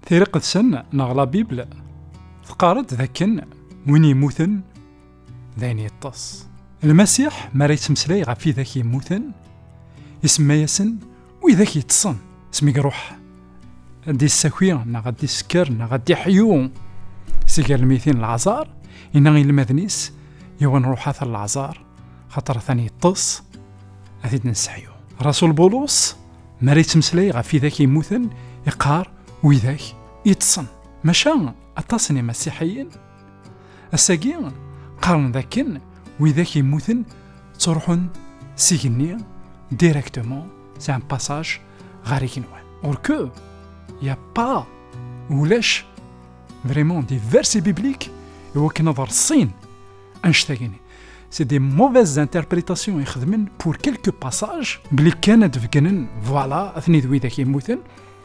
Tiriqet-sen neɣ la Bible teqqar-d dakken win yemmuten d ayen yeṭṭes. Lmasiḥ mi ara yettmeslay ɣef widak yemmuten, isemma-yasen Widak yeṭṭsen, asmi iruḥ ad d-issaki neɣ ad d-isker neɣ ad d-iḥyu si galmitin leɛẓar, inna i lmaden-is, yiwen ruḥ ata leɛẓar, xaṭer atan yeṭṭes, ad t-id-nesseḥyu. Rasul Bulus, mi ara yettmeslay ɣef widak yemmuten, iqqar widak yeṭṭsen. Maca aṭas n yimasiḥiyen Ass-agi, qqaren dakken widak yemmuten ttruḥun s igenni directement, c'est un passage ɣer igenwan. Or que, il n'y a pas ulac vraiment des versets bibliques iwakken ad rṣin anect-agini. C'est des mauvaises interprétations i xedmen pour quelques passages, bli kan ad d-beggnen, voilà, atni d widak yemmuten,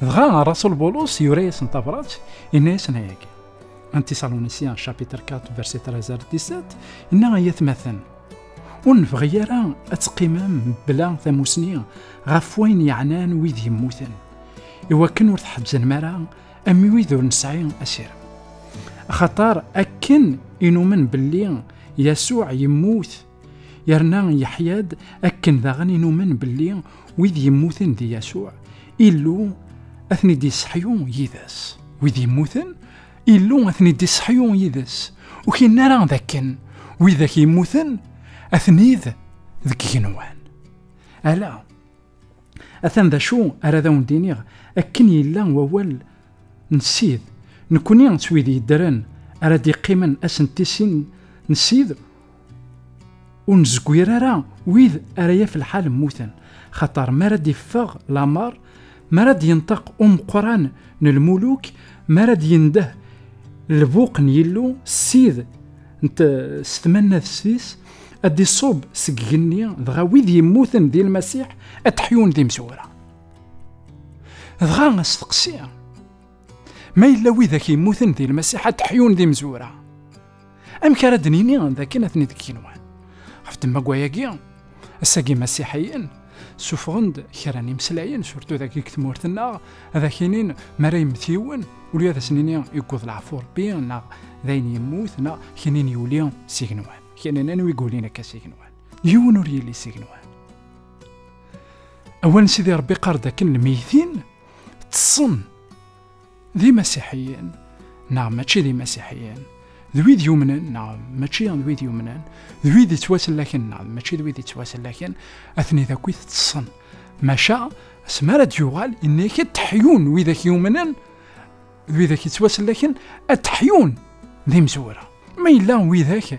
Dɣa Rasul Bulus yura-yasen tabrat, inna-yasen ayagi. Antisalunisiyen chapitre 4 verset 13 ar 17 inna ay atmaten ur nebɣi ara ad teqqimem bla tamusni ɣef wayen yeɛnan wid yemmuten iwakken ur tḥebbzenem ara am wid ur nesɛi asirem axaṭer akken inumen belli yasuɛ yemmut yerna yeḥya-d akken daɣen inumen belli wid yemmuten di Yasuɛ Illu ad ten-id-iseḥyu yid-s wid yemmuten Illu ad ten-id-iseḥyu yid-s ur kinen ara d akken widak yemmuten ad ten-id deg igenwan ala atan d acu ara d awen-d-iniɣ akken yella wawal n Sid nekkni s wid yeddren ara d-iqqimen ass n tisin n Sid ur nezgwir ara wid ara yaf lḥal mmuten xaṭer mi ara d-iffeɣ lamar mi ara d-yenṭeq umeqqran n lmuluk mi ara d-yendeh lbuq n yillu ssid s tmannadest-is ad d-iṣub seg igenni dɣa wid yemmuten di lmasiḥ ad d-ḥyun d imezwura dɣa asteqsi Ma yella widak yemmuten di lmasiḥ ad ḥyun d imezwura. Amek ara d-nini dakken atni deg yigenwan? Ɣef ddemma wayagi, ass-agi imasiḥiyen suffɣen-d kra n imeslayen, surtu dagi deg tmurt-nneɣ, ad ak-inin mi ara yemmet yiwen, uli ad as-nini yewweḍ leɛfu Rebbi, neɣ d ayen yemmut, neɣ kinin yuli s igenwan. Kinin anwa i yulin akka s igenwan? Yiwen ur yelli s igenwan. Awal n Sidi Rebbi qqar-d akken lmeyytin ṭṭsen d imasiḥiyen neɣ mačči d imasiḥiyen d wid yumnen neɣ mačči d wid yumnen d wid yettwasellaken neɣ mačči d wid yettwasellaken atni d akk iteṭṭsen maca asmi ara d-yuɣal inna-ak ad teḥyun widak yumnen d widak yettwasellaken ad teḥyun d imezwura ma yella widak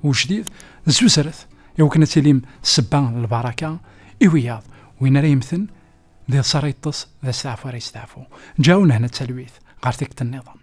Ujdid d tuzret i wakken ad tilim sebba n lbaraka i wiyaḍ. Win ara yemmten d iḍes ara yeṭṭes, d asteɛfu ara yesteɛfu. Ǧaɛu nehna d talwit ɣer tikkelt nniḍen.